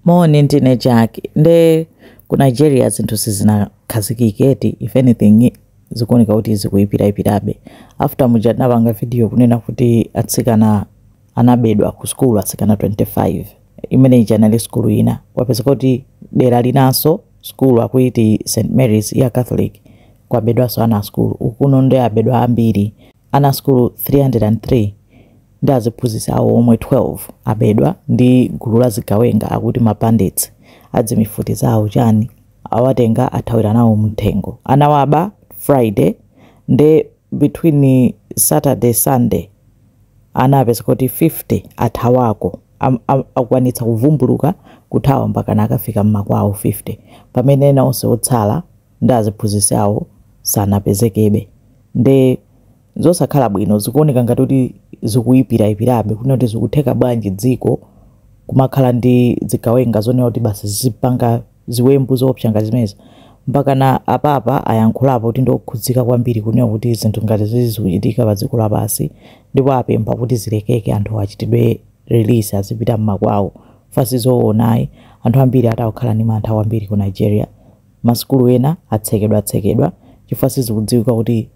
Moni ndine Jack nde ku Nigeria zinthu sizinakhazikike eti if anything zikuoneka kuti zikuyipirayipirabe after muja tinapanga video kunena kuti atsikana anabedwa ku sukulu atsikana 25 imene ija inali sukulu ina kwapezeka kuti dera linanso sukulu akuiti St Mary's ya Catholic kwabedwanso ana a sukulu ukuno nde abedwa ambiri Ana a sukulu 303 ndi aziphunzitsi awo omwe 12 abedwa ndi gulu la zigawenga akuti ma bandits a dzimifuti zawo chani awatenga athawira nawo mnthengo. Anawaba Friday nde between Saturday Sunday anapezeka kuti 50 athawako. Akwanitsa kuvumbuluka kuthawa mpaka anakafika mmakwawo 50 pamene ena onse otsala ndi aziphunzitsi awo sanapezekebe nde zosakhala bwino zikuoneka ngati kuti zikuipiraipirabe kunena kuti zikutheka bwanji dziko kumakhala ndi zigawenga zonena kuti basi zizipanga ziwembu zoopsa ngati zimenezi mpakana a Papa ayankhulapo kuti ndiokhudzika kwambiri kunena kuti zinthu ngati zizi zikuchitika pa dziko lapansi ndipo apempha kuti zilekeke anthu achitidwe release azipita mmakwawo pa zimenezo zoonayi anthu ambiri akukhala ndi mantha kwambiri ku nigeria Masukulu ena atsekedwa tsekedwa chifukwa sizikudziwika kuti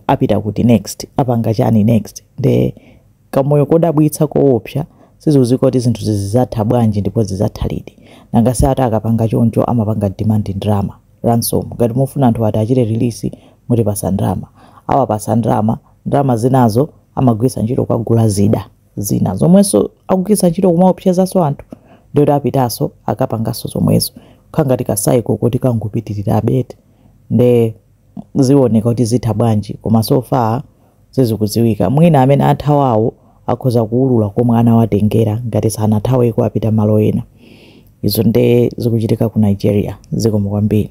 apita kuti next, apanga chani next nde kamoyo kodabwitsa koopsa sizikudziwika kuti zinthuzi zizatha bwanji ndipo zizatha liti. Nanga si ati akapanga choncho amapanga demand ndalama, ransom, ngati mufuna anthuwa tiwachite release mutipatse ndalama. Akawapatsa ndalama, ndalama zinazo amagwiritsa ntchito kukagula zida. zina zomwenso akugwiritsa ntchito kumaopsezanso anthu ndiye kuti apitanso akapanganso zomwezo kukhala ngati ka cycle koti kangopitirirabe eti nde zioneka kuti zitha bwanji koma so far sizikudziwika mwina amene athawawo akhoza kuulula komwe anawatengera ngati sanathaweko apita malo ena izo nde zikuchitika ku nigeria zikomo kwambiri